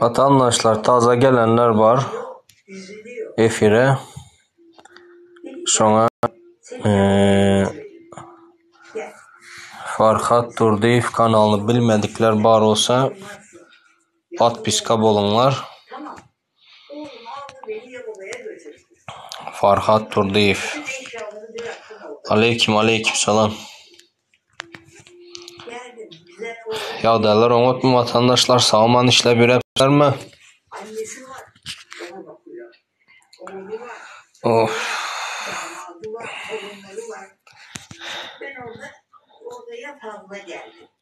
Watandaşlar taze gelenler bar efire şoňa eee Farhat Durdyýew kanalyny bilmedikler bar bolsa podpiska boluňlar. Farhat Turdyýew. Aleýkim, aleýkim salam. Ýagdaýlar oňatmy watandaşlar? Sag-aman işläp ýöräpsizlermi? Oh.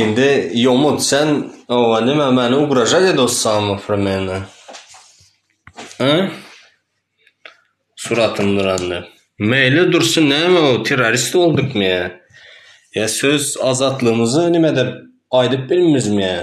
Indi ýomut sen owa näme meni ugražat edossaňmy pro mene? Hä? Suratym durandy. Meýli dursun näme o terrorist boldukmy ýa? Ýa söz azatlygymyzy nimedir aýdyp bilmizmi ýa?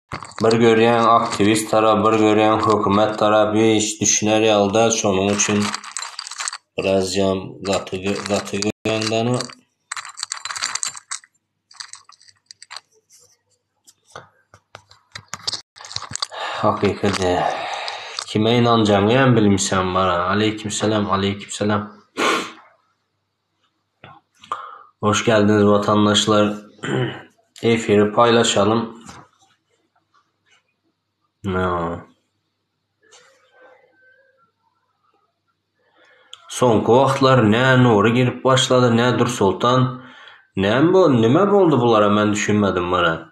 Bir görýäň aktiwist tarap bir görýäň hökümet tarap hiç düşüner ýaly däl şonuň üçin biraz jam gaty gaty görýäňdana. Hakyky däl. Kime ynanjagyňy hem bilmişem bar. Aleýkimsalam aleýkimsalam. Hoş geldiniz vatandaşlar. Efiri paylaşalım. No. Soňky wagtlar nä Nury girip başlady, nä Dursultan. Näme bu, nime boldy bulara men düşünmedim munä.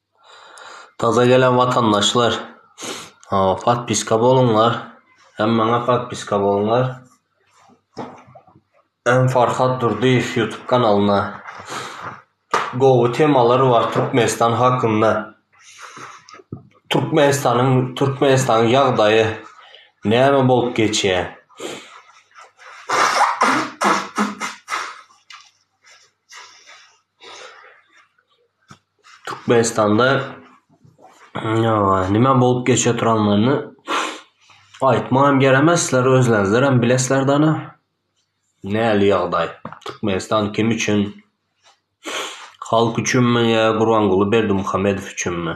Taze gelen watandaşlar podpiska bolunlar hem maňa podpiska bolunlar hem Farhat Durdyýew ýutub kanalyna gowy temalar bar Türkmenistan hakynda Türkmenistanyň Türkmenistanyň ýagdaýy näme bolup geçýä Türkmenistanda nime bolup geçe turanlygyny aýtmagam gerek emes sizler özleriňizlerem bilesizler dana näli ýagdaý Türkmenistan kim üçin halk üçinmi ýa Gurbanguly Berdimuhamedow üçinmi.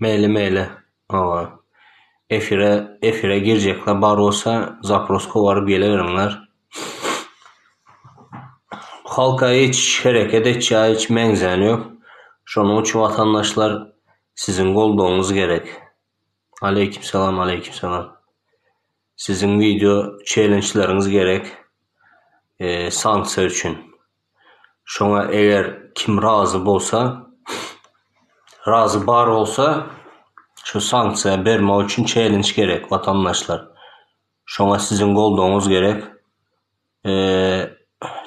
Meýli meýli hawa. Efire efire girjekler bar bolsa zaproz kowaryp geleweriňler. Halka hiç hereket etjä hiç meňzän ýok. Şonuň üçin watandaşlar siziň goldawyňyz gerek. Aleýkim salam aleýkim salam. Siziň wideo çelençleriňiz gerek sanksiýa üçin. Şoňa eger kim razy bolsa, razy bar bolsa şu sanksiýa bermek üçin çelinç gerek watandaşlar. Şoňa siziň goldawyňyz gerek.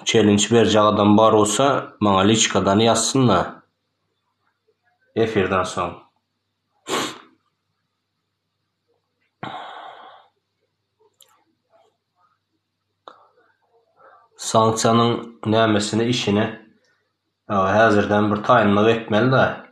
Çelinç berjek adam bar bolsa maňa liçkadan ýazsynda efirden soň. Sanksiýanyň nämesine işine häzirden bir taýynlyk etmelidä.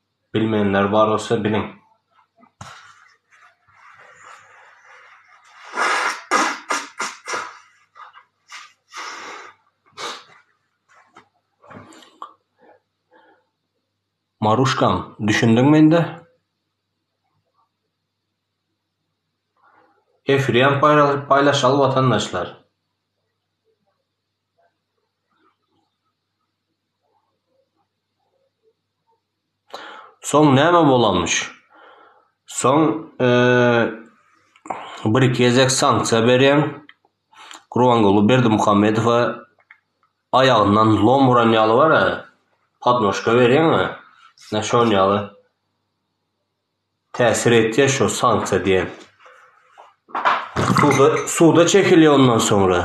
Bilmeýänler bar bolsa biliň. Maruşkam, düşündiňmi indi? Efirem paýlaşaly watandaşlar. Soň näme bolanmyş? Soň bir iki gezek sanksiýa berýän Gurbanguly Berdimuhamedowa aýagyndan lom uran ýaly bar-a, podnožka berýän-a, näşe şon ýaly. Täsir etýä şu sanksiýa diýen. Suda suda çekilýä ondan soňra.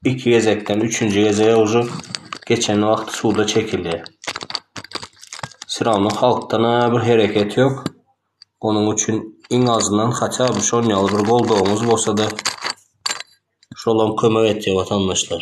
Iki gezekden üçünji gezege uje geçen wagty suda çekilýä. Syrawna halkdan a bir hereket ýok. Onuň üçin iň azyndan haçan bir şon ýaly bir goldawyňyz bolsada şolam kömek etýä watandaşlar.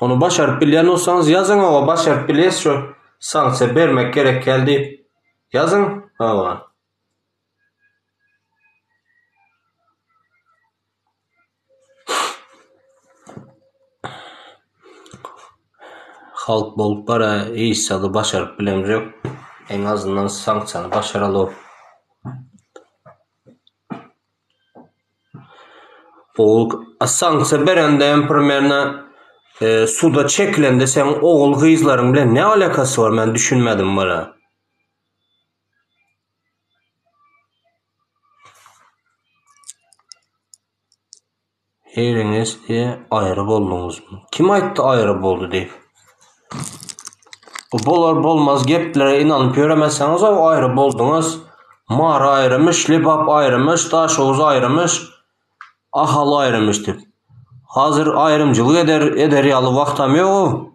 Ony başaryp bilýän bolsaňyz ýazyň hawa başaryp bilýäs şu sanksiýa bermek gerek ýaly diýip ýazyň hawa. Halk bolup bara hiç zady başaryp bilemz ýok eň azyndan sanksiýany başaralyok. Ol sanksiýa berende hem primerne suda çekilende seň ogul gyzlaryň bilen ne alakasy bar men düşünmedim wala. Heleňesde aýry bolduňyzmy? Kim aýtdy aýry boldy diýip? Bu bolar-bolmaz geplere ynanyp ýöremeseňiz-ow, aýry bolduňyz. Mary aýrymyş, Lebap aýrymyş, Daşoguz aýrymyş, Ahal aýrymyş diýip. Hazir aýrymçylyk eder eder ýaly wagtam ýog-ow.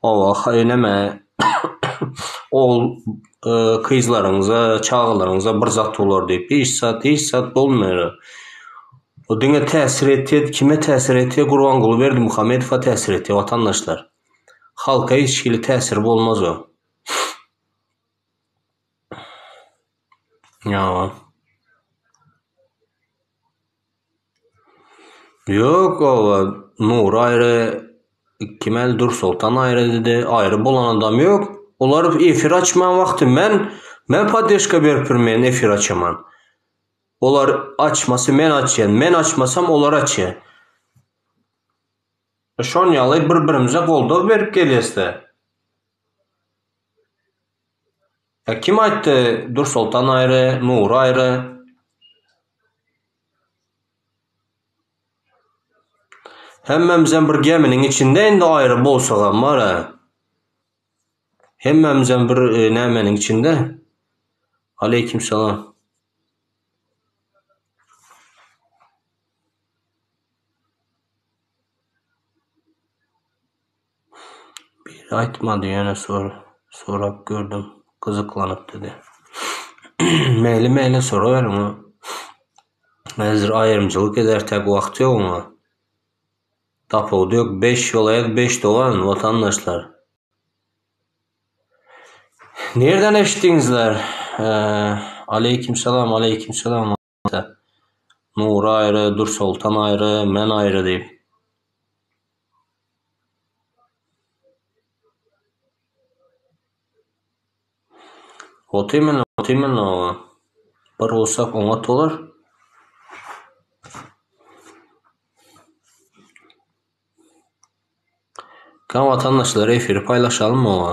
Hawa, haýyr-näme, ogul kyzlaryňyza, çagalaryňyza bir zat bolar diýip, hiç zat, hiç zat bolmaýar. O diňe täsir etýär, kime täsir etýär, Gurbanguly Berdimuhamedowa täsir etýär, watandaşlar. Halka hiç hili täsiri bolmaz o. Ýa. Ýok oba Nury aýry kim el Dursultan aýry diýdi aýry bolan adam ýok olar efir açman wagty men men poddeşka beripdir men efir açaman olar açmasy men açýan men açmasam olar açýa şon ýaly bir birimize goldaw berip gelýäsdä. Ä kim aýtdy Dursoltan aýry, Nury aýry. Hemmämizem bir geminiň içinde indi aýry bolsagam bar-a. Hemmämizem bir nämeniň içinde. Aleýkim salam. Biri aýtmady, ýöne sorap gördüm, gyzyklanypdy-da. Meýli-meýli soraberiň, ol häzir aýrymçylyk eder tek wagty ýok oňa. Tapawudy ýok, beş welaýat, beş dogan, watandaşlar. Nireden eşitdiňizler? Aleýkimsalam, aleýkimsalam. Ata. Nury aýry, Dürsoltan aýry, men aýry diýip. Ot iýmeli, ot iýmeli oba. Bir ursak oňat bolar. Gel watandaşlar efiri paýlaşalymy oba.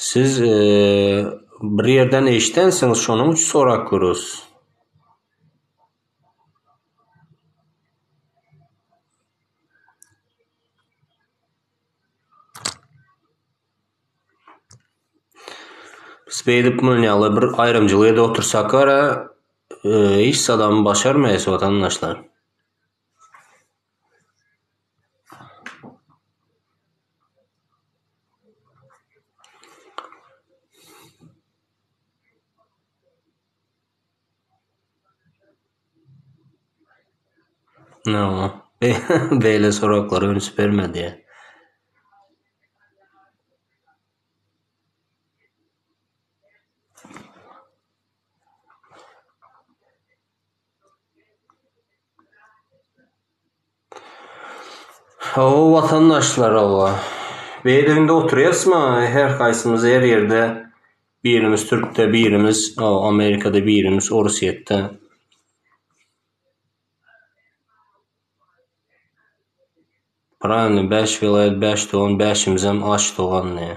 Siz bir ýerden eşidensiňiz şonuň üçin sorap görüs. Biz beýdip munun ýaly bir aýrymçylyk edip otursak ara hiç zadam başarmaýas watandaşlar. No, beýle soraglary üns bermedi. Hawa watandaşlar hawa. Beýleginde oturýasma her haýsymyz her ýerde birimiz türkde birimiz amerikada birimiz orusýetde. Pravilno bäş welaýat bäş dogan bäşimizem aç dogan diýýä.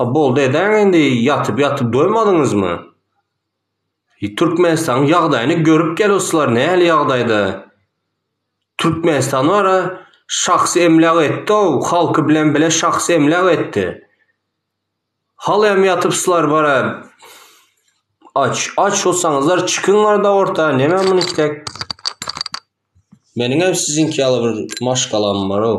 A boldy edäň indi ýatyp ýatyp doýmadyňyzmy. Türkmenistanyň ýagdaýyny görüp gel ruslar nähili ýagdaýda. Türkmenistan bara şahsy emläk etdi-ow halky bilen bile şahsy emläk etdi. Haly hem ýatypslar bara aç aç hosaňyzlar çykyň arda orta näme muny isläp. Meniň hem siziňki ýaly bir maşgalam bar-ow.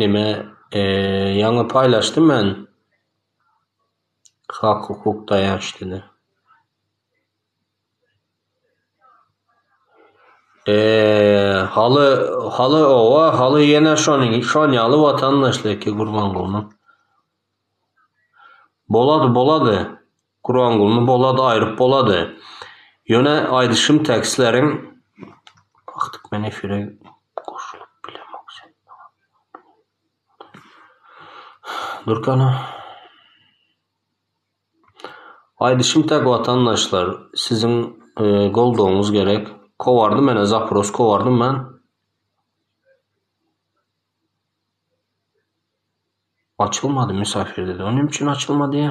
Neme ýaňy paýlaşdym men hak hukuk daýançlyny. Haly haly oba haly ýene şonuň şon ýaly watandaşlygy Gurbangulynyň. Bolady, bolady. Gurangulny bolady aýryp bolady. Ýöne aýdyşym tekstleriň Wagtyk men efire goşulyp bilemok sen maňa Durkana Aýdyşym tek watandaşlar siziň goldawyňyz gerek. Kowardy menä zapros kowardy men. Açylmady müsafir dedi. O näme üçin açylmady?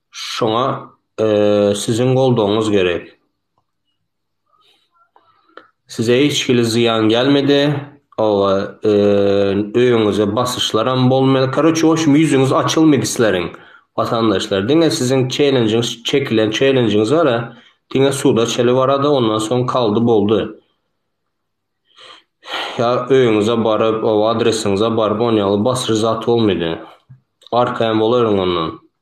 Şoňa siziň goldawyňyz gerek. Size hiç hili zyýan gelmedi. Oba öýüňize basyşlaram bolmady. Karoçe o şum ýüzüňiz açylmady sizleriň watandaşlar. Diňe siziň çelenjiňiz çekilen çelenjiňiz bara diňe suda çeli barada ondan soň kaldy boldy. Ýa öýüňize baryp o adresiňize baryp onýaly basyş zat bolmady. Arkaýyn bolaýryň ondan.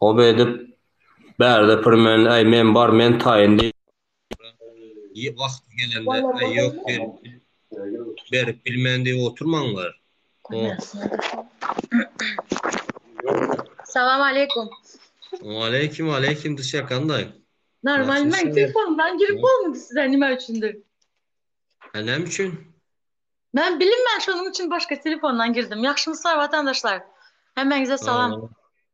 Hop edip, bärde pir men, äý, men bar, men taýyn diýip oturyp, wagty gelende, äý, ýok, berip bilmen diýip oturmaň bir. Salam aleýkum. Aleýkum, aleýkum Duşýa kandaý? Normal, men telefonymdan girip bolmady size nime üçindir. Hä näme üçin? Men bilinmän şonuň üçin başga telefondan girdim. Ýagşymy sorap watandaşlar. Hemmäňize salam.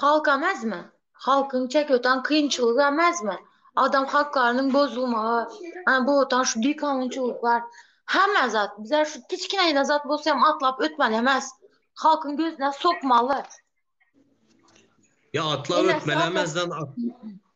Halk ämezmi? Halkyň çäk ötan kynçylygy ämezmi? Adam haklarynyň bozulmagy, ana bu otan şu bikanunçylyk bar. Hemme zat, bize şu kiçkinäjde zat bolsa hem atlap ötmeli emes. Halkyň gözüne sokmaly. Ýa atlap ötmeli emes zat,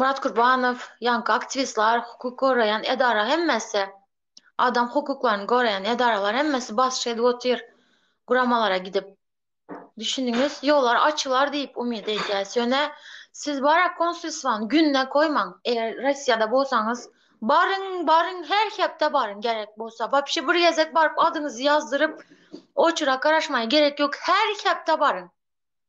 Murat Kurbanow, ýaňky aktiwistler, hukuk goraýan edara hemmesi, adam hukuklaryny goraýan edaralar hemmesi basyş edip otyr guramalara gidip. Düşündiňiz? Ýollar açylar diýip umyt edýäs. Ýöne siz bara konsulstwany gününe goýmaň. Eger Russiýada bolsaňyz, baryň, baryň, her hepde baryň gerek bolsa. Wapşe bir gezek baryp adyňyzy ýazdyryp, oçera garaşmaga gerek ýok. Her hepde baryň.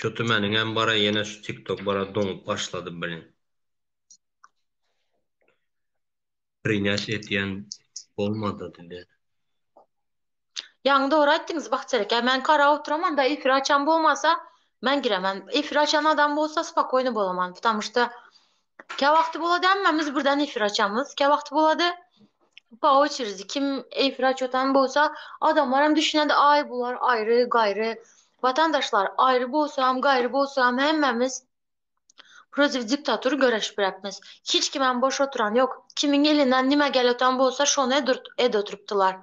Şu tümeniňem bara ýene şu tiktok bara doňup başlady blin. Prinýat etýän bolmady diýdi. Ýaňy dogry aýtdyňyz Bahçereke men karap oturaman da efir açan bomasa men giremen efir açan adam bolsa spokojny bolaman ptamuşta Käwagty bolady hemmämiz birden efir açamyz, käwagty bolady po oçeredi kim efir açýotan bolsa adamlaram düşünýärdi aý bular aýry gaýry watandaşlar aýry bolsam gaýry bolsam hemmämiz protiv diktatur göreşipräkmiz hiç kimem boş oturan ýok kimiň elinden nime gelýotan bolsa şony edurt ed oturypdylar.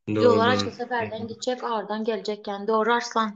Ýolar açylsa bärden gitjek ardan geljek ýan dogry Arslan.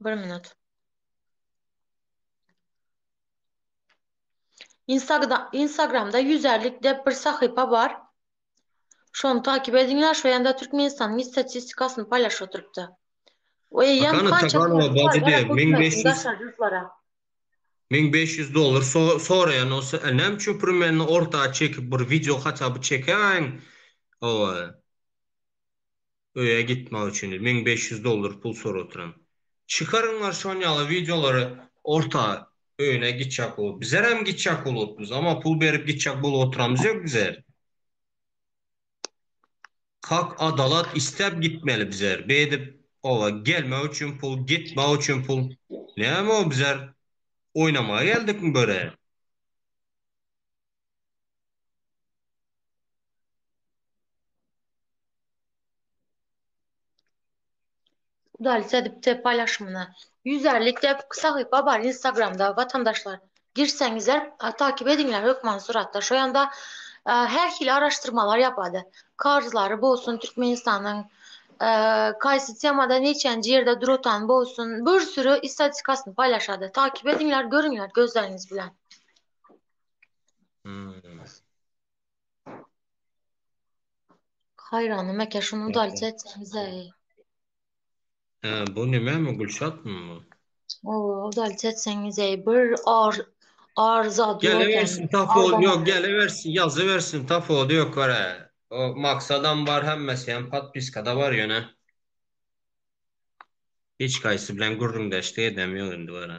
Bir minut. Instagda Instagramda ýüzärlik dep bir sahypa bar. Şony takyp ediňler, şu ýanda Türkmenistanyň istatistikasyny paýlaşyp oturypdy. We ýan Hakana kança Taganova pul bajy berip, diýip, ming beş hökümetiň ýüz- daşary ýurtlara. Meň beş ýüz dollar so soraýan bolsa, e, näme üçin primeni orta çekip bir wideo haça by çekäýiň. Hawa. öýe gitmek üçin müň bäş ýüz dollar pul sorap otyryn. Çykaryňlar şon ýaly wideolary orta öýüne gitjek bolup. Bizerem gitjek bolupdyrys amma pul berip gitjek bolup otyramyz ýok bizer. Hak adalat isläp gitmeli bizer beýdip oba gelmek üçin pul gitmek üçin pul näme o bizer oýnamaga geldikmi börä. Udalit edipdir paýlaşymyny. Ýüz ellik dep sahypa bar instagramda watandaşlar. Girseňizler takip ediňler hökman suratda şo ýanda her hili araşdyrmalar ýapady. Karzlary bolsun Türkmenistanyň kaýsy temada neçenji ýerde duratan bolsun bir süri istatikasyny paýlaşady. Takip ediňler görüňler gözleriňiz bilen. Haýranyma eke şuny udaljy etseňizeý. Hä, bu nämemi Gülşatmy bu? Owo, udaljy etseňizeý. Bir ar ar zat ýok. Gelibersin tapawudy ýok, gelibersin, ýazybersin tapawudy ýok görä. O maksadam bar, hemmesi hem podpiskada bar ýöne. Hiç haýsy bilen gürrüňdeşlik edem ýok indi görä.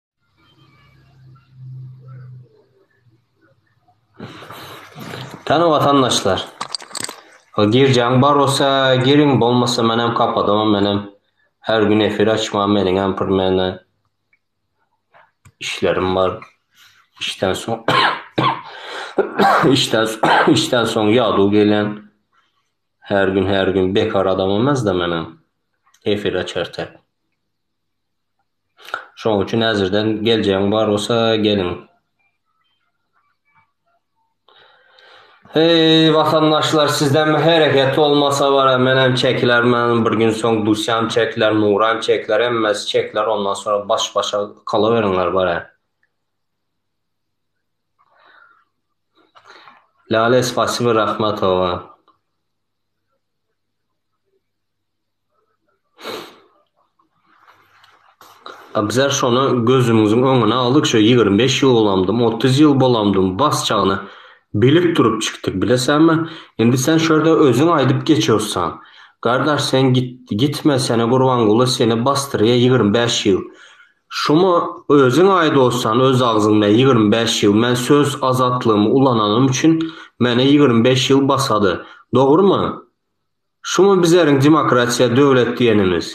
Täze watandaşlar. Girjaň bar bolsa giriň bolmasa men hem kapadamam men hem her gün efir açmam meniň hem bir mene işlerim bar. İşden soň işden işden soň ýaduw gelýän. Her gün her gün bekar adamymyz da men hem efir açartak. Şoň üçin häzirden geljegiň bar bolsa geliň. Heý watandaşlar sizden hereket bolmasa bara menem çekilermen bir gün soň Dusýam çekiler Nuram çekiler hemmesi çekiler ondan soň baş başa kalaweriňler bara. Lale spasibo rahmatowa. Abzar şony gözümiziň öňüne aldyk, şo ýigrimi bäş ýyl bolamdym, otuz ýyl bolamdym, basjagyna bilip durup çykdyk, bilesäňmi? Indi sen şo ýerde özüň aýdyp geçiossaň. Gardaş, sen git, gitme, seni Gurbanguly seni basdyrýa ýigrimi bäş ýyl. Şumy özüň aýdossan öz agzyňda ýigrimi bäş ýyl, men söz azatlygymy ulananym üçin meni ýigrimi bäş ýyl basady. Dogrumy? Şumy bizeriň demokratiýa döwlet diýenimiz?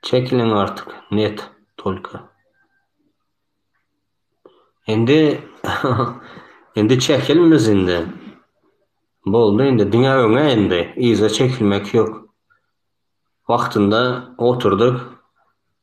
Çekiliň artyk net tolka. Indi indi çekil biz indi. Boldy indi diňe öňe indi. Yza çekilmek ýok. Wagtynda oturdyk.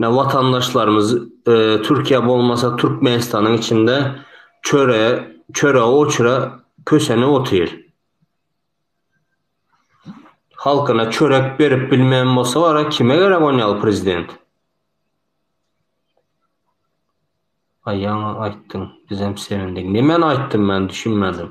Ine watandaşlarymyz Türkiýe bolmasa Türkmenistanyň içinde çöre çöre oçra kösenip otyr. Halkyna çörek berip bilmeýän bolsa gara kime gerek on ýaly prezident. Aýaňa aýtdyň bizem sevindik. Nimeni aýtdym men düşünmedim.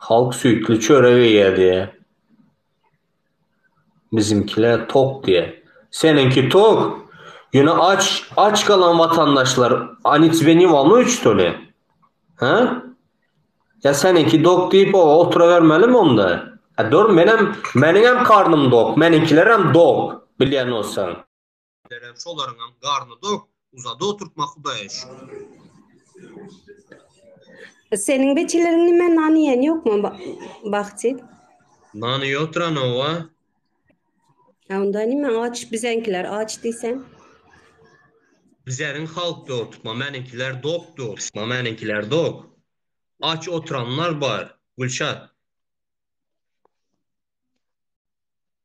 Halk süýtli çörek iýýär diýýär. Bizimkiler tok diýýär. Seniňki tok. Ýöne aç, aç galan watandaşlar Oni tebe ne wamno üç tole? Hä? Ýa seniňki dok diýip o oturabermelimi onda? Dur menem, meniňem karnym dok, meniňkilerem dok, bilýän bolsaň. Berem şolaryň hem garny dok, uzada oturtma Hudaýa şükür. Seniň beçileriň nime nan iýen ýokmy Bahti? Nany ýokduran owa. Ha onda nime aç bizeňkiler aç diýsen. Bizäriň halk dok tutma, meniňkiler dok dok, tutma meniňkiler dok. Aç oturanlar bar, Gülşat.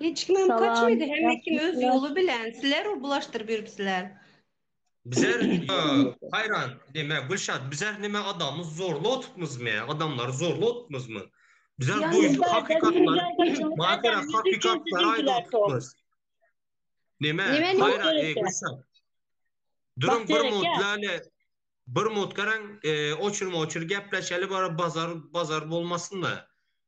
Hiç kim hem kaçmady, hemme kim öz ýoly bilen, sizler u bulaşdyryp ýörüpsiler. Bizler haýran, näme Gülşat, bizler näme adamy zorla otupmyzmy, adamlary zorla otupmyzmy? Bizler duýup hakykatlary, maşgala hakykatlary aýdyp otupmyz. Näme, haýran, eý Gülşat. Duruň bir minut läle, bir minut garaň, oçurma-oçur gepleşeli, bara bazar, bazar bolmasyn-da.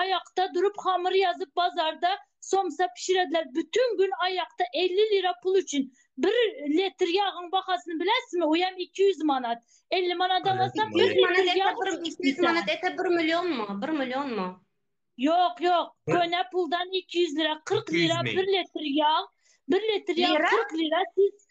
Aýakda durup hamyr ýazyp bazarda somsa pişirediler bütün gün aýakda elli lira pul üçin bir letr ýagyň bahasyny bilesizmi oýam iki ýüz manat elli manadan alsam bir litr ýag iki ýüz manat ete bir millionmy bir millionmy ýok ýok köne puldan iki ýüz lira kyrk lira bir letr ýag bir letr ýag kyrk lira siz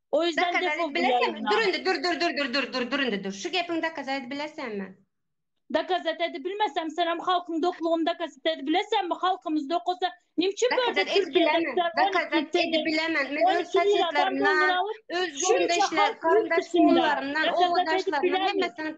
O ýüzden defol bu ýaýyndan. Dokazat dur indi dur dur dur dur dur indi dur. Şu gepiňi dokazat edip bilersenmi? Dokazat edip bilmesem senem halkyň doklugyny dokazat edip bilersenmi? Halkymyz dok bolsa nime üçin börde Türkiýede tutar? Dokazat edip bilemen. Men öz şaýatlarymdan öz gündeşler garyndaş ugurlarymdan owadanşlarymdan hemmesinden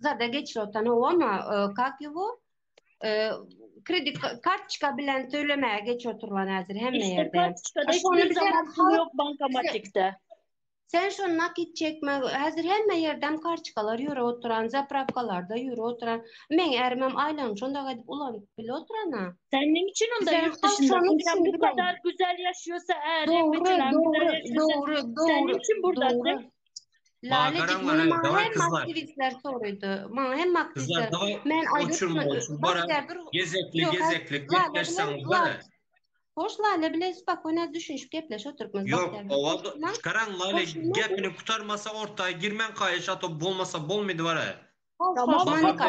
zada geçir otan ona kak ýubu kredit kartoçka bilen tölemäge geç oturylan häzir hemme ýerde. Ýok bankomatikde. Sen şu nakit çekme, häzir hemme ýerden kartoçkalar ýöre oturan, zapravkalarda ýöre oturan. Meň ärimem aýlagyny şonda gaýdyp ulanyp bile oturana. Sen näme üçin onda ýurt dışynda? Sen bu kadar güzel ýaşaýsa, äriň bilen. Dogry, dogry, dogry. Sen näme üçin burda? Laledik bunu maňa hem aktivistler soraýdy. Maňa hem aktivistler. Men aýdypdym. Başgadyr gezekli gezekli gepleşseňiz bolýar. Hoş Lale bilen spokojno düşünişip gepleşip oturupmyz. Ýok, owa çykaraň Lale gepini gutarmasa ortaýa girmäň haýyş ato bolmasa bolmady bara. Tamam, Lale.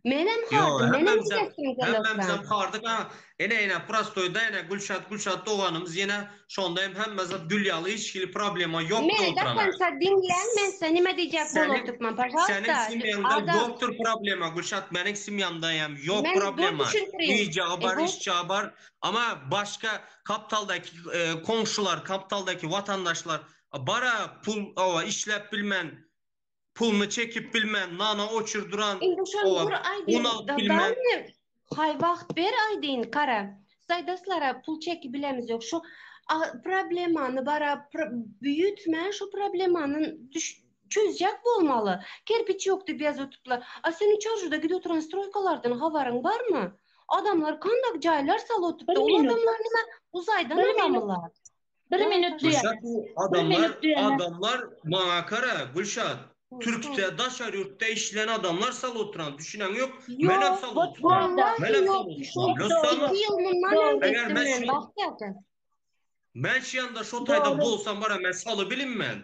Menem hordy, menem gidesim gelýär. Hemmämizem hordyk, a ene-ene prostoýda ene Gülşat, Gülşat doganymyz ýene şonda hem hemme zat gül ýaly hiç hili problema ýok diýip oturan. Meni dokonca diňläň, men size nime diýjek bolup otyrkman, pažalwsta. Seniň semýaňda ýokdur problema, Gülşat, meniň semýamda hem ýok problema. Iýjegi bar, içjegi bar. Amma başga kaptaldaky komşular, kaptaldaky watandaşlar bar-a, pul, oba, işläp bilmän. Puluny çekip bilmän nana oçur duran Indi şony oa dur aýdyn un alyp bilmän. Dadamy haý wagt ber aýdyn gara Saýdaslara pul çeki bilemiz ýok şu a problemany bara pr büýütmän şu problemany düş çözjek bolmaly kerpiç ýok diýip ýazypdyplar a seniň çarjuda gidip oturan stroýkalardan habaryň barmy adamlar kanda jaýlar salyp otypdy ol adamlar nima uzaýdan alamylar. Bir minut diýen. Gülşat bu adamlar, adamlar maňa kara Gülşat. Türkçe daşary ýurtda işleýän adamlar sal oturan, düşünen ýok. Men hem sal oturan. Men hem sal oturan. Eger men şu Men şu ýanda şu taýda bolsam bara men saly bilinmen.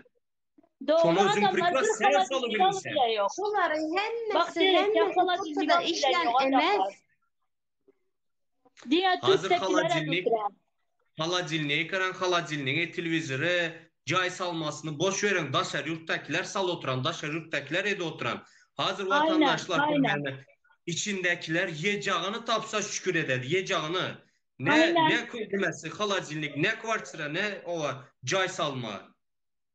Şony özüň priklas sen saly bilinsen. Şolaryň hemmesi hemmesi işleýän emez. Diňe türkdekilere düşüren. Holodilnik garaň holodilnigi telewizori jaý salmasyny boş beriň daşary ýurtdakiler sal oturan daşary ýurtdakiler edi oturan hazir watandaşlar görmäne içindekiler ýejagyny tapsa şükür edeli ýejagyny ne ne köýdemesi holodilnik ne kwartira ne owa jaý salma.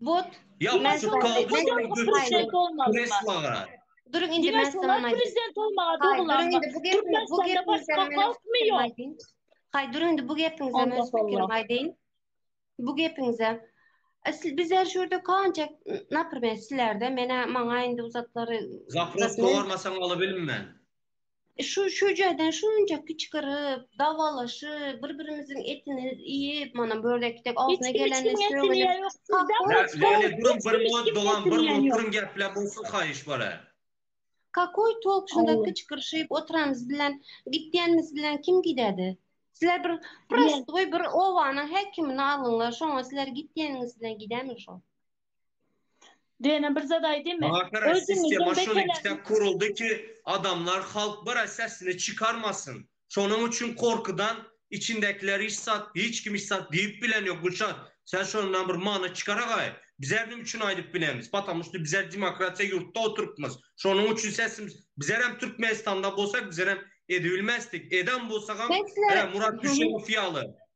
Bot. Ýapon çutka Durun indi men salam aýdyň. Prezident bolmaga doglan. Türkmenistanda başga halkmy ýok? Haý durun indi bu gepiňize men pikirimi aýdyň. Bu gepiňize. Siz bizler şu ýerde kança naprimer sizlerde menä maňa indi uzatlary. Zaproz gormasaň alybilmän. Şu şüýjeden şunça kiçgirip, dawalaşyp, bir-birimiziň etini iýip, mana bu ýerde ekdek agzyna geleni sögülip. Läle durun bir munat dogan bir munat durun gepläp bolsun haýyş bala. Kakoý tolk şunda kiçgirşip oturanymyz bilen gitýänimiz bilen kim gidädi? Sizler bir prostoý bir obanyň häkimini alyňlar şoňa sizler gitýäniňiz bilen gidämi şo? Dene bir zat aýdymy? Maňa köre sistema Özüňiziň şonuň bekeläniň içine kuruldy ki adamlar halk bire sesini çykarmasyn. Şonuň üçin korkudan içindekiler hiç zat hiç kim hiç zat diýip bilen ýok Gülşat sen şondan bir many çykaragaý bizler nim üçin aýdyp bilemiz patamn şto bizler demokratiýa ýurtda oturypmyz şonuň üçin sesimiz bizler hem Türkmenistanda bolsak bizler hem edibilmezdik edem bolsagam Sesler hä Murat Düşegow ýaly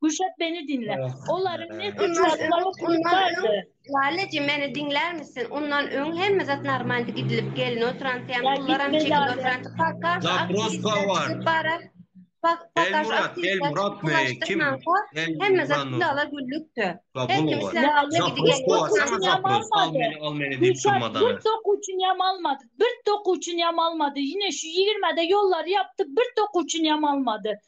Guşap beni dinle. Olaryň ne suç ýazmaly suç bardy? Laleji meni diňlärmisin? Ondan öň hemme zat normaldy gidilip gelin oturanty hem pullaram çekip oturanty pakkar aktiwistler barar. Pakkar aktiwistler pulaşdyrmanka hemme zat gülala güllükdi. Her kim isläniňde gidip geldi. Guşap bir dokuçyny hem almady. Bir dokuçyny hem almady. Ýene şu ýigirmäde ýollary ýapdy bir dokuçyny hem almady.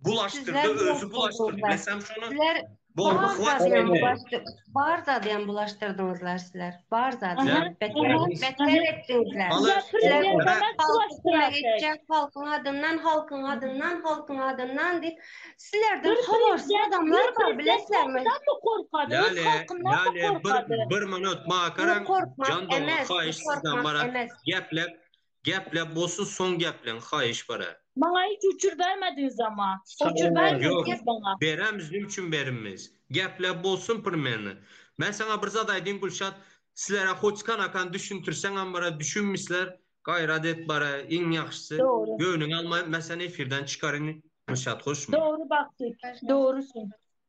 Bulaşdyrda özü bulaşdyrdy. Bilesem şonu. Sizler Bolma hwat bulaşdyr. Bar zady hem bulaşdyrdyňyzlar sizler. Bar zady. Beter etdiňizler. Halkyň adyndan, halkyň adyndan, halkyň adyndan diýip. Sizlerden habarsyz adamlar bar bilesizmi? Bir minut makarem. Jan dogan haýyş sizden barat. Geplep. Gepläp bolsun soň gepleň haýyş bara. Maňa hiç uçur bermediňiz ama. Uçur bermeli diýip maňa. Beremiz nim üçin berinmiz. Gepläp bolsun primerne. Men saňa bir zat aýdýyn Gülşat sizlere hoç kanakany düşüntirseňem bara düşünmişler gaýrat et bara iň ýagşysy göwnüňe alma men seni efirden çykaryn Gülşat hoşmy. Dogry Bagtyk dogrusyň.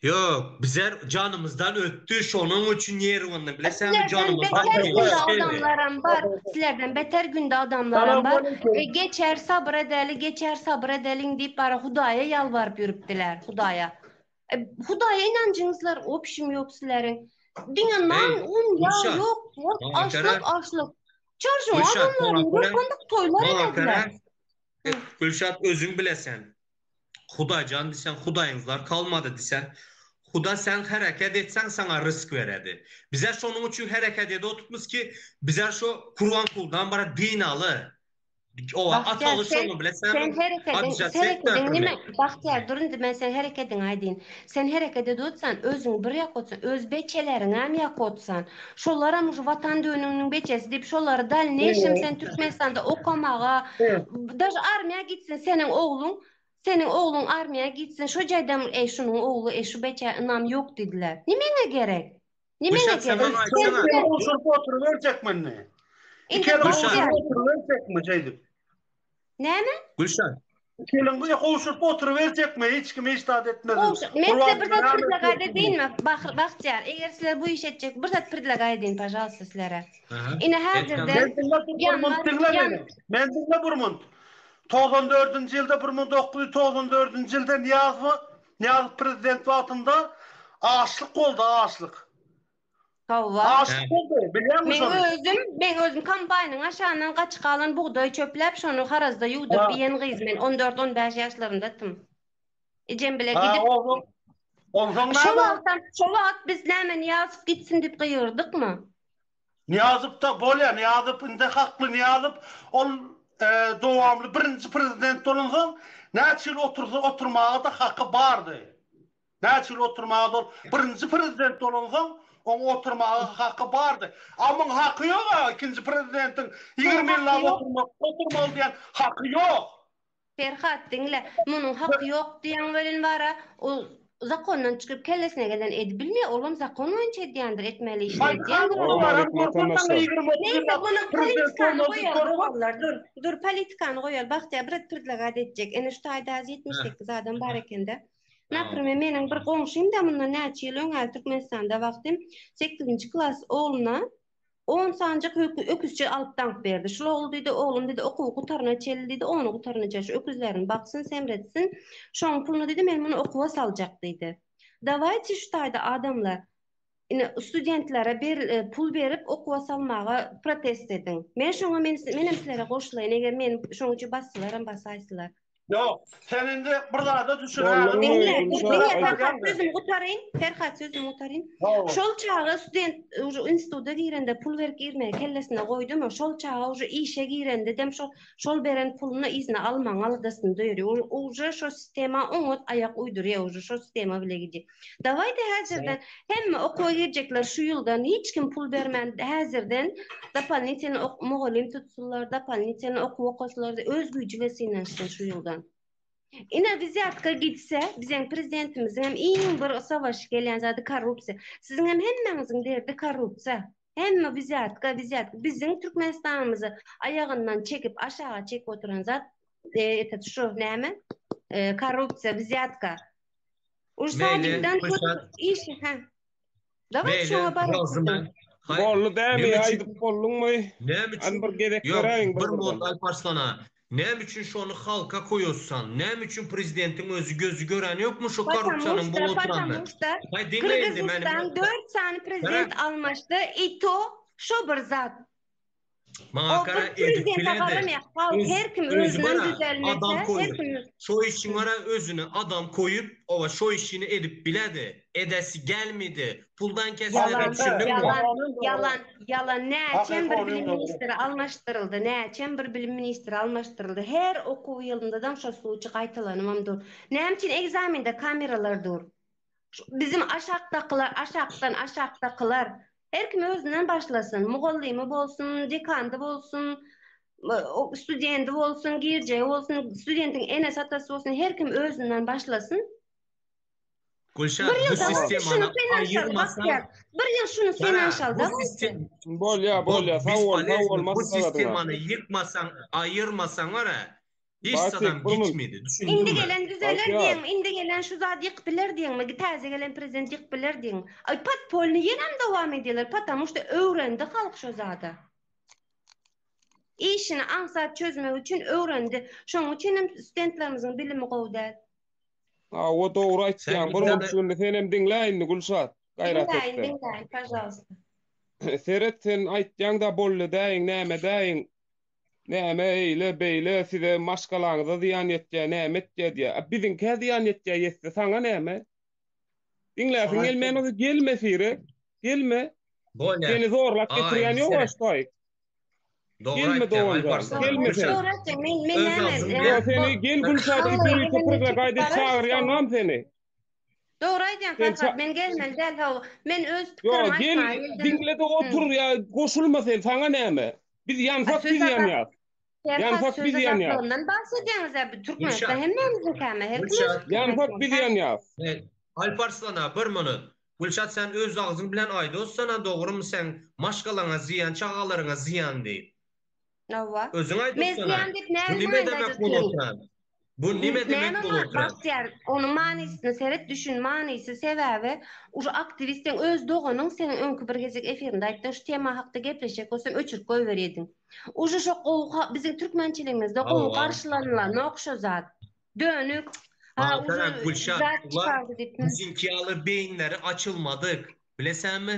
Ýok, bizar janymyzdan ötdi, şonuň üçin ýerwanda bilesäňmi janymyzdan ötdi. Sizlerden beter günde adamlaram bar. Sizlerden beter günde adamlaram bar. Geçer sabyr edeli, geçer sabyr edeliň diýip bara Hudaýa ýalbaryp ýörüpdiler, Hudaýa. Hudaýa ynanjyňyzlar opşim ýok sizleriň. Diňe nan, un, ýag ýok, açlyk, açlyk. Çarşyň adamlaryň bir günlük toýlar edediler. Gülşat özüň bilesäň. Hudaýjan diýseň, hudaýyňyzlar kalmady diýseň, Huda sen hereket etseň saňa rysk beredi. Bizä şonuň üçin hereket edip otupmyz ki, bizä şo Kurwankuldan bara din aly. Oba ataly şonuň bile sen. Sen herekediň, herekediň nime? Bahtyýar dur indi men sen herekediň aýdýyn. Sen hereket edotsan özüň bir ýakotsan öz beçeleriňäm ýakotsan şolaram şu watan dönüňniň beçesi diýip şolary dalneýşem sen türkmenistanda okamaga daže armiýa gitsin seniň ogluň seniň ogluň armiýa gitsin şu jaýdam eý şunuň ogly eý şu beçä ynam ýok diýdiler nimeňe gerek nimeňe gerek sen oturyberjekmini ikimiz oturyberjekmi şeýdip. Näme? Gülşan. Gelin gyz gowşuryp oturyberjekmi, hiç kim hiç zat etmezin. Gowşur. Men size bir zat predlagat edinmi, Bah- Bahtiýar? Eger sizler bu işi etjek, bir zat predlagat edin, pažalsta, sizlere. Aha. Ine, Et, häzirden- tamam. Men diňläp bir Ýanmaz, munt diňle ýan- meni. Men diňle bir munt. Togsan dördünji ýylda, bir müň dokuz ýüz togsan dördünji ýylda Nyýazowa, Nyýazow prezident wagtynda açlyk boldy, açlyk. Hawwa. Aşyk boldy, bilýäňmi şony? Meň özüm, meň özüm kombaýnyň aşagyndan gaçyk galan bugdaýy çöpläp, şony harazda ýuwduryp iýen gyz men, on dört, on bäş ýaşlarymdatym. Ejem bile gidip. Onsoň näme? Şo wagtam, şo wagt biz näme Nyýazow gitsin diýip gygyrdykmy? Nyýazow-da, bolýa, Nyýazow indi hakly Nyýazow, ol dowamly birinji prezident bolansoň, näçe ýyl otursa oturmaga-da haky bardy. Näçe ýyl oturmaga ol birinji prezident bolansoň oň oturmaga haky bardy. A muň haky ýok a ikinji prezidentiň ýigrimi ýyllap oturmak oturmaly diýen haky ýok. Perhat diňle munuň haky ýok diýen welin bar a ol zakondan çykyp kellesine gelen edip bilmeýär olam zakon boýunça edýändir etmeli işini edýändir olam. Neýse munuň politikany goýaly doganlar dur dur politikany goýaly Bagtyýar brat predlagat etjek ene şu taýda ýetmiş sekiz adam bar ekende. Naprime meniň bir goňşymda mundan näçe ýyl öňe Türkmenistanda wagtym sekizinji klas ogluna on sanjak öküzçe alyp daňyp berdi. Şul ogul diýdi, oglum diýdi, okuwy gutaryna çenli diýdi, ony gutarynyja şu öküzlerini baksyn, semretsin. Şoň puluny diýdi, men muny okuwa saljak diýdi. Dawaýçy şu taýda adamlar ine studentlere pul berip okuwa salmaga protest ediň men şoňa men menem sizlere goşulaýyn eger men şoň üçin basylaram basaýsylar. Ýok sen indi bir zada düşünäýdin. Diňle diňle Ferhat sözümi gutaryň Ferhat sözümi gutaryň şol çaga student uje instituda girende pul berip girmegi kellesine goýdumy şol çaga uje işe girendedem şo şol beren puluny yzyna almagyň aladasyny döýrýär uje şo sistema oňat aýak uýdurýar uje şo sistema bile gidýär. Dawaýda häzirden hemme okuwa girjekler şu ýyldan hiç kim pul bermän häzirden dopalnitelny ok mugallym tutsunlar dopalnitelny okuw okaslar öz güýji bilen synanyşsyn şu ýyldan. Ine wzýatka gitse bizeň prezidentimiziňem iň bir savaşy gelýän zady korrupsiýa. Siziňem hemmäňiziň derdi korrupsiýa. Hemme wzýatka wzýatka biziň Türkmenistanymyzy aýagyndan çekip aşaga çekip oturan zat eee etet şu näme eee korrupsiýa wzýatka. Ursadikden iş ha. Dawat şoňa baryp. Bolly dämi aýdyp bolduňmy? Näme üçin bir gezek beräýiň bir bolsa Alparslana. Näme üçin şony halka koýossan? Näme üçin prezidentiň özi gözi göräni ýokmy şu korrupsiýanyň bu oturanyny? Aý diňle indi meni. Dört sany prezident almaşdy i to şo bir zat. Maňa gara edip bilende. Her kim özünden düzelmese, her kim şo işin gara özüne adam koyup, ova şo işini edip biledi. Edesi gelmedi. Puldan kesilere düşündün mü? Yalan, yalan. Näçem bir bilim ministri almaşdyryldy. Näçem bir bilim ministri almaşdyryldy. Her okuw ýylynda daň şo suwçy gaýtalanybam dur. Näme üçin ekzamende kameralar dur? Bizim aşakdakylar, aşakdan aşakdakylar her kim özünden başlasyn. Mugallymy bolsun, dekandy bolsun, studenti bolsun, girjeji bolsun, studentiň enesi atasy bolsun, her kim özünden başlasyn. Gülşah, bir ýylda sistemany aýyrmasaň, bir ýyl şuny finansialda bolsun. Bolýa, bolýa, sag bol, sag bol, Bu sistemany ýykmasaň, aýyrmasaň, ara, Hiç zadam geçmedi. Indi gelen düzeler diýeň, indi gelen şu zady ýykyp biler diýeňmi, täze gelen prezident ýykyp biler diýeň. Aý podpolnyý ýenem dowam edýärler, patamu şda öwrendi halk şo zada. Işini aňsat çözmek üçin öwrendi. Şonuň üçinem stentlerimiziň bilimi gowy däl. Hawa dogry aýtýaň. Bir mümçügini senem diňle indi Gülşat. Gaýrat et. Diňläýin, diňläýin, pažalwsta. Seret sen aýtýaň-da bolly däýiň, näme däýiň. Näme eýle, beýle, size maşgalaňyza zyýan ýetýär, näme etýär diýýär. A biziňkä zyýan ýetýär, ýetse, saňa näme? Diňläsiň Saňa gelmän bolsa gelme, Sire. Gelme. Bolýa. Seni zorlap Aga, getirýän indi ýok, seret. Aştaý. Dogry Gelme, aýtýaň, dogan Alpar, jan, saňa gelme sen. Gülşat. Dogry aýtýaň, men men Öz näme? agzym bilen- Ýa, Ýok, seni gel Gülşat, Halk öýüne öýüňe gel gülşat, gitmek aýdyp bararys çagyrýanam seni. Dogry aýdýaň Sen Farhat, ça- men gelmeli däl hawa. Men öz Yo pikirimi gel aýtmaga geldim. diňle-de Hı. otur ya goşulma sen saňa näme? Biz A, ýansak söz biz azat- ýanýas. Serhat Ýansak söz biz ýanýas. azatlygyndan bahs edýäňiz-ä. Bu Türkmenistan Gülşat. hemmämiziňkäme? Her kim öz Gülşat. pikirini Ýansak aýtmaly biz däl. ýanýas. He, Alp Arslan-a, bir minut. Gülşat sen öz agzyň bilen aýdossan-a dogrymy seň maşgalaňa zyýan, çagalaryňa zyýan diýip. Hawa. Özüň aýt oturan. Bu nime demek bol oturan? Bu nime demek bol oturan? Bagtyýar, onuň manysyna seret, düşün, manysy sebäbi uje aktiwist seň öz doganyň, sen öňki bir gezek efirinde aýtdyň, şu tema hakda gepleşjek bolsam öçürip goýber ediň. Uje şo gowy biziň türkmençiligimizde gowy garşylanlanok şo zat. Dönük. Ha uje zat çykardy diýip. Biziňki ýaly beýinleri açylmadyk, bilesäňmi?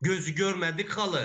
Gözi görmedik haly.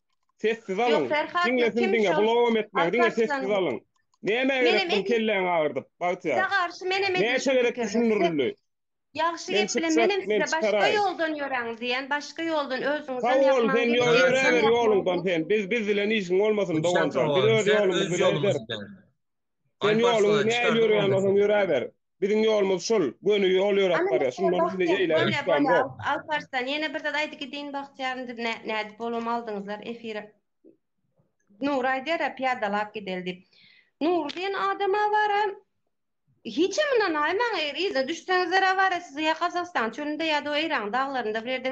Sessiz alyň. Diňe siz diňe bulawam etmäň. Diňe sessiz alyň. Näme gerek bu kelläňi agyrdyp Bagtyýar? Size garşy menem edin. Näçe gerek düşündirildi. Ýagşy gep bilen menem size başga ýoldan ýöräň diýen, başga ýoldan özüňizden ýapmaň. Sag bol, sen ýöräber ýoluňdan sen. Biz biz bilen işiň bolmasyn doganjan. Biz öz ýolumyzy bilen ederis. Sen ýoluň nähili ýörýäni bolsaň ýöräber. Biziň ýolumyz şul, göni ýol ýöräp barýas. Şundan bize eýle ünsgam zor. Alparslan, ýene bir zat aýdy gidin Bagtyýar indi nädip bolam aldyňyzlar efire. Nury aýdýara pyýadalap gideli diýip. Nury diýen adama wara hiçem ynanaýmaň eger yzyna düşseňizler wara sizi ýa Gazagystan çölünde ýa-da o Eýranyň daglarynda bir ýerde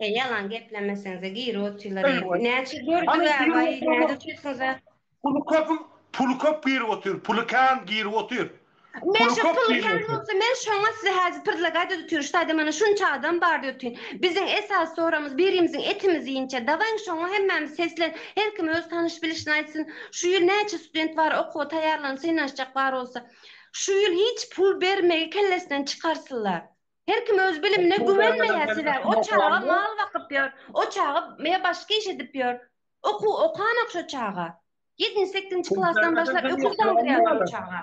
E ýalan geplemesenize giri otyrlar eý eý. Näçe gördük a baý nädip çyksynza. Puly köp puly köp girip otyr puly kän girip otyr. Men şo puly kän bolsa men şoňa size häzir prdlagaýt edip otyr ştaýda mana şunça adam bar diýip otyr. Biziň esasy soragymyz birimiziň etimizi ýinçä dawaýyň şoňa hemmämiz seslen her kim öz tanyş bilişini aýtsyn şu ýyl näçe student bar okuwa taýýarlanyp synanyşjak bar bolsa şu ýyl hiç pul bermegi kellesinden çykarsynlar. Her kim öz bilimine güwenmeýär sebäbi o çaga mal bakyp ýör, o çaga me başga iş edip ýör. Okuw okanok şo çaga. Ýedinji sekizji klasdan başlap öküz daňdyrýarlar o çaga.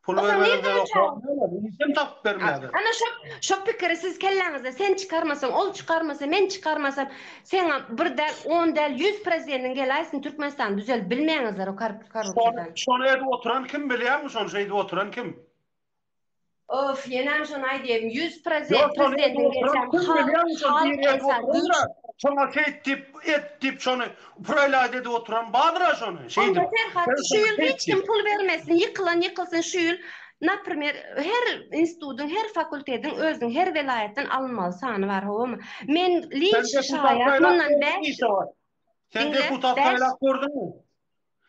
Pul bermezde okatmaýarlar, iş hem tapyp bermeýärler. Ana şo şo pikiri siz kelläňizde sen çykarmasaň, ol çykarmasa, men çykarmasam, seň bir däl, on däl, ýüz prezidentiň geläýsin Türkmenistany düzeldip bilmeýäňizler o korrupsiýadan. Şony edip oturan kim bilýäňmi şony şeýdip oturan kim? Of ýenem şony aýdaýyn ýüz prozent prezidentiň gelşem halk esas güýç. Şoňa şeýt diýip et diýip şony proýlaýt edip oturan badyra şony şeýdip. Onda Ferhat şu ýyl hiç kim pul bermesin ýykylan ýykylsyn şu ýyl naprimer her institudyň her fakultediň özüň her welaýatdan alynmaly sany bar howamy men liç şaýat mundan bäş Sen deputat saýlap gördüňmi?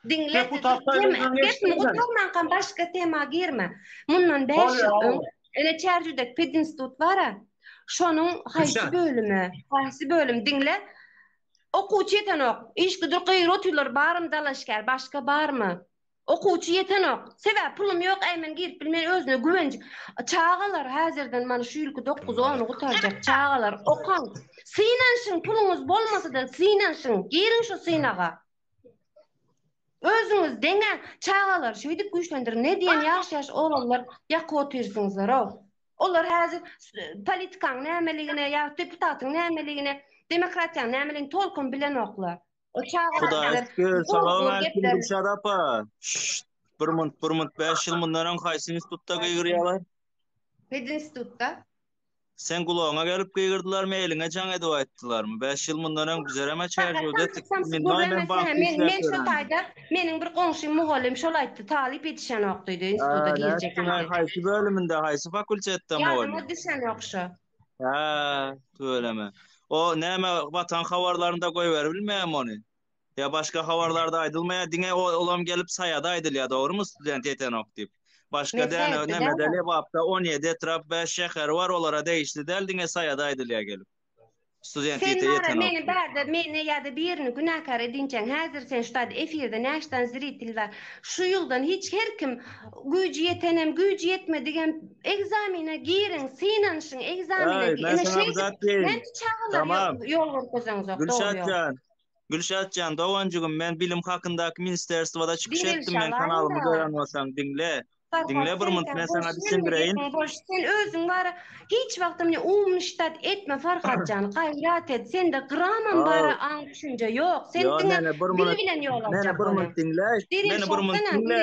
Diňle tema gepmi gutarmanka başga tema girme mundan bäş ýyl öň ene çärjüdek pedinstut bara şonuň haýsy bölümi haýsy bölüm diňle okuwçy ýetenok işgüdür gyýr otyrlar baryny dalaşgär başga barmy okuwçy ýetenok sebäp pulum ýok äý men girip bilmen özüne güwenç çagalar häzirden man şu ýylky dokuz ony gutarjak çagalar okaň synanşyň puluňyz bolmasada synanşyň giriň şu synaga Özüňiz deňe çagalary şeýdip güýçlendiriň. Ne diýen ýaş-ýaş oglanlar ýakyp otyrsňyzlar-ow. Olar häzir politikanyň nämeligine ýa deputatyň nämeligine, demokratiýanyň nämeligini tolkun bilenoklar. O çagalar bilen Salam aleýkum Gülşat apa. Bir munt, bir munt, bäş ýyl mundan öň haýsy institutda gygyrýarlar? Pedinstitutda. Seň gulagyňa gelip gygyrdylarmy, eliňe jaň edip aýtdylarmy? Bäş ýyl mundan öň bizerem-ä çärjewde Men şo taýda, meniň bir goňşym mugallym şol aýtdy, talyp ýetişenok diýdi, instituta girjek. Nätdiň-aý, haýsy bölüminde, haýsy fakultetde mugallym? Ýadyma düşenok şo. Hä, tüweleme. O näme, Watan habarlarynda goýberibilmeýärmi ony? Ýa başga habarlarda aýdylmaýar diňe olam gelip saýada aýdylýar dogrymy student ýetenok diýip. Başga däne nämede lebapda on ýedi etrap bäş şäher bar olara degişli däl diňe saýada aýdylýar gelip. Student ýetenok. Sen wara meni barda meni ýa-da birini günäkär edinçäň häzir sen şutat efirde näşdan zritil bar şu ýyldan hiç her kim güýji ýetenem güýji ýetmedigem egzamine giriň synanyşyň egzamine diýip ine şeýdip näme çagalar ýol görkezeňzok dogry ýol. Gülşatjan doganjygym men bilim hakyndaky ministerstwoda çykyş Diňe etdim men kanalymy şalaýda. gören bolsaň diňle Diňle bir munt men saňa düşündireýin. Sen özüň bara hiç wagtam mine umniştat etme Farhatjan gaýrat et sende gramam bara aň düşünje ýok sen diňe dili bilen ýol aljak boly. Meni bir munt diňle. Meni bir munt diňle.